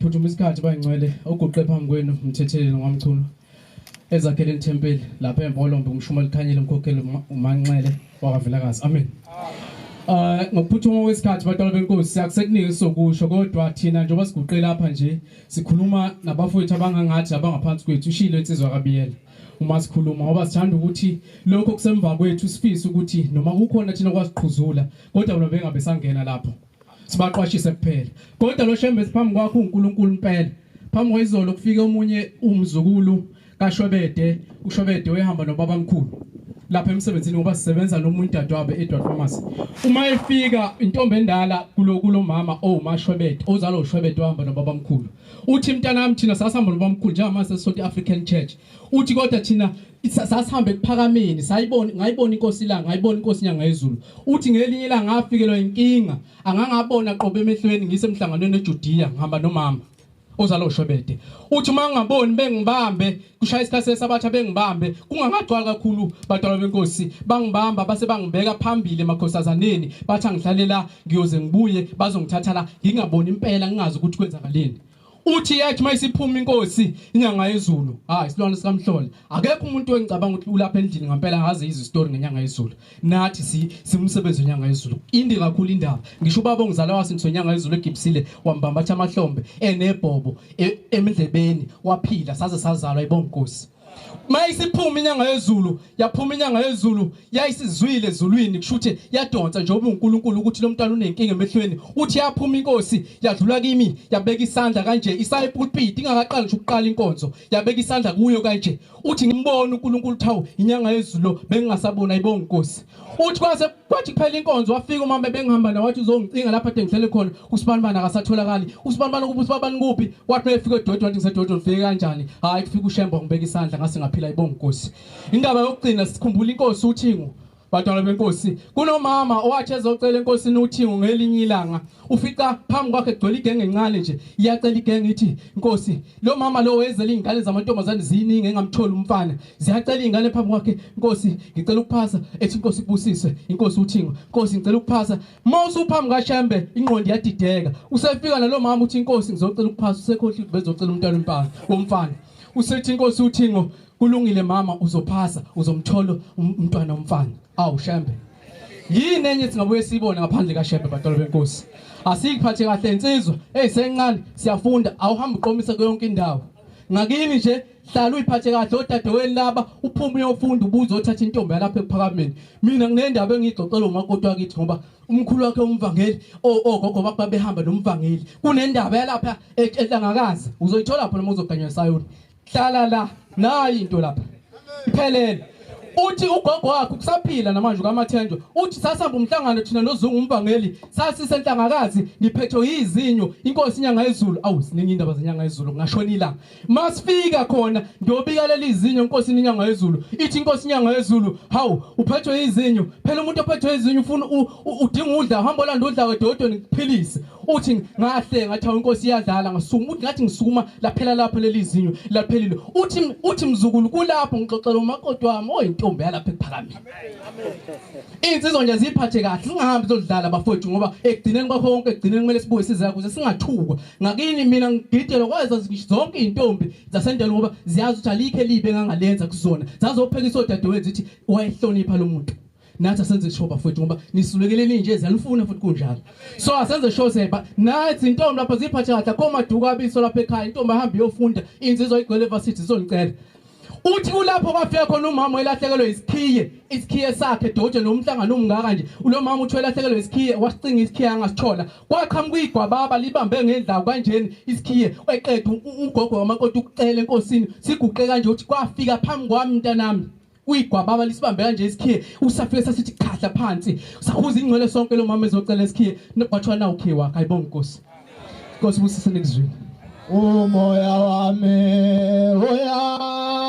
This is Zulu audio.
phuthuma isikhathi bayingcwele oguqe phambi kwenu mthetheleli ngwamchunu ezakhele ithempeli lapha embolombe umshuma likhanyile umkhokheli umanxele wakavilakazi amen Uh ngokuphuthuma kwesikhathi batwana benkosi siyakusekunike sokusho kodwa thina njengoba siguqe lapha nje sikhuluma nabafowethu abangangathi abangaphansi kwethu ushilo insizwa kabiyela uma sikhuluma ngoba sithanda ukuthi lokho kusemva kwethu sifise ukuthi noma kukhona thina kwasiqhuzula kodwa bona bengabe sangena lapho sibaqwashise kuphela kodwa lo shembe siphambi kwakho uNkulunkulu impela phambi kwayizolo kufike omunye umzukulu kaShwebede uShwebede wehamba nobaba mkhulu lapha emsebenzini ngoba sisebenza nomuntu dadwabe eEdward Pharmacy uma efika intombi endala kulo kulomama owumashwebede oh, ozalo ushwebede wahamba nobaba mkhulu uthi mntanami thina sasihamba nobaba mkhulu njengamanje sesisonto iAfrican Church uthi kodwa thina sasihambe kuphakameni sayibona ngayibona inkosi la ngayibona inkosi inyanga yezulu uthi ngelinye la ngafikelwa inkinga angangabona qobe emehlweni ngisemhlanganweni eJudiya ngihamba nomama ozalo shwebede uthi uma ngingaboni bengibambe kushaya isikhathi sesabatha bengibambe kungangagcwali kakhulu badalwa benkosi bangibamba base bangibeka phambili emakhosazaneni bathi angihlalela ngiyoze ngibuye bazongithatha la ngingaboni impela ngingazi ukuthi kwenzakaleni uthi yathi mayisiphuma inkosi inyanga yezulu hayi isilwane sikamhlole akekho umuntu engicabanga ukuthi ulapha endlini ngempela ngazi izi story ngenyanga yezulu nathi si simsebenzi wenyanga yezulu indi kakhulu indaba ngisho ubaba ongizala wasinso inyanga yezulu egibisile wambamba athi amahlombe enebhobo e, emndlebeni waphila saze sazalwa ibonkosi mayisiphuma inyanga yezulu yaphuma inyanga yezulu yayisizwile ezulwini kusho ukuthi yadonsa njengoba uNkulunkulu ukuthi lo mntwana unenkinga emehlweni uthi yaphuma inkosi yadlula kimi yabeka isandla kanje isaye pulpit ingakaqali ngisho ukuqala inkonzo yabeka isandla kuyo kanje uthi ngimbona uNkulunkulu thawu inyanga yezulu bengingasabona ayibonga inkosi uthi kwase kwathi kuphela inkonzo wafika umama bengihamba nawe wathi uzongicinga lapha ade ngihlele khona usibanibani akasatholakali usibanibani kuphi usibanibani kuphi wathi mefika edodwa wathi ngisedodwa ngifike kanjani hhayi kufika ushemba ngibeka isandla ngase ngaphila ibonga inkosi indaba yokugcina sikhumbula inkosi uthingo badala benkosi kunomama owathi ezocela enkosini uthingo ngelinye ilanga ufica phambi kwakhe kugcwele igenge encane nje iyacela igenge ithi inkosi lo mama lo wezela iy'ngane zamantombazane ziyiningi engamtholi umfana ziyacela iy'ngane phambi kwakhe nkosi ngicela ukuphasa ethi inkosi ikubusise inkosi uthingo nkosi ngicela ukuphasa uma usuphambi kashembe ingqondo iyadideka usefika nalo mama uthi inkosi ngizocela ukuphasa usekhohla ukuthi bezocela umntwana wempala womfana usethi inkosi uthingo kulungile mama uzophasa uzomthola um-, umntwana womfana awu shembe yini enye singabuye siyibone ngaphandle kashebe batolo benkosi asiyiphathe kahle insizwa eyi sencane siyafunda awuhambe uqomise kuyonke indawo ngakini nje hlala uyiphathe kahle odadewenu laba uphume uyofunda ubuze othatha intombi yalapha ekuphakameni mina nginendaba engiyixoxela umakoti wakithi ngoba umkhulu wakhe umvangeli ogogo bakho babehamba nomvangeli kunendaba yalapha e-, ehlangakazi uzoyithola pho noma uzoganywa esayoni hlala la nayi into lapha iphelele uthi ugogo wakhe kusaphila namanje ukamathenjwa uthi sasihamba umhlangano thina nozungu umvangeli sasisenhlangakazi ngiphethwe yizinyo inkosi inyanga yezulu awu siningi indaba zenyanga yezulu ngashona ilanga masifika khona ngiyobika leli zinyo inkosi inyanga yezulu ithi inkosi inyanga yezulu hawu uphethwe yizinyo phela umuntu ophethwe yizinyo ufuna udinga udla uhamba olanda udla wedodweni kuphilise uthi ngahle ngathi hawu inkosi iyadlala ngasukuma uthi ngathi ngisukuma laphela lapho leli zinyo laphelile uthi uthi mzukulu kulapho ngixoxela umakoti wami oyintombi yalapha ekuphakameni insizwa nje ziphathe kahle singahambi zodlala bafowethu ngoba ekugcineni kwakho konke ekugcineni kumele sibuye size kuze singathukwa ngakini mina ngididele kwazo zonke izintombi zasendela ngoba ziyazi ukuthi alikhe libe ngangalenza kuzona zazophekisa odadewethu zithi wayehlonipha lo muntu nathi asenze show bafowethu ngoba nisulekeleni nje ziyalufuna futhi kunjalo so asenze show seba nathi intombi lapha ziphathe kahle akho maduka abiso lapha ekhaya intombi ahamba iyofunda inzizwa igcwele evarsity izonicela uthi kulapho kwafika khona umama elahlekelwe isikhiye isikhiye sakhe doje nomhlangano umngaka nje ulo mama uthi elahlekelwe isikhiye wasicinga isikhiye angasithola kwaqhamuka igwababa libambe ngendlawu kanjeni isikhiye eqedwe ugogo wamakoti ukucela enkosini siguqe kanje uthi kwafika phambi kwami mntanami uyigwababa lisibambe kanje isikhiye usafike sasithi khahla phansi sakhuza ingcwele sonke lo mama ezocela isikhiye kwathiwa nawu khiye wakhe ayibonga inkosi inkosi busise nekuzwini umoya wami uyavuma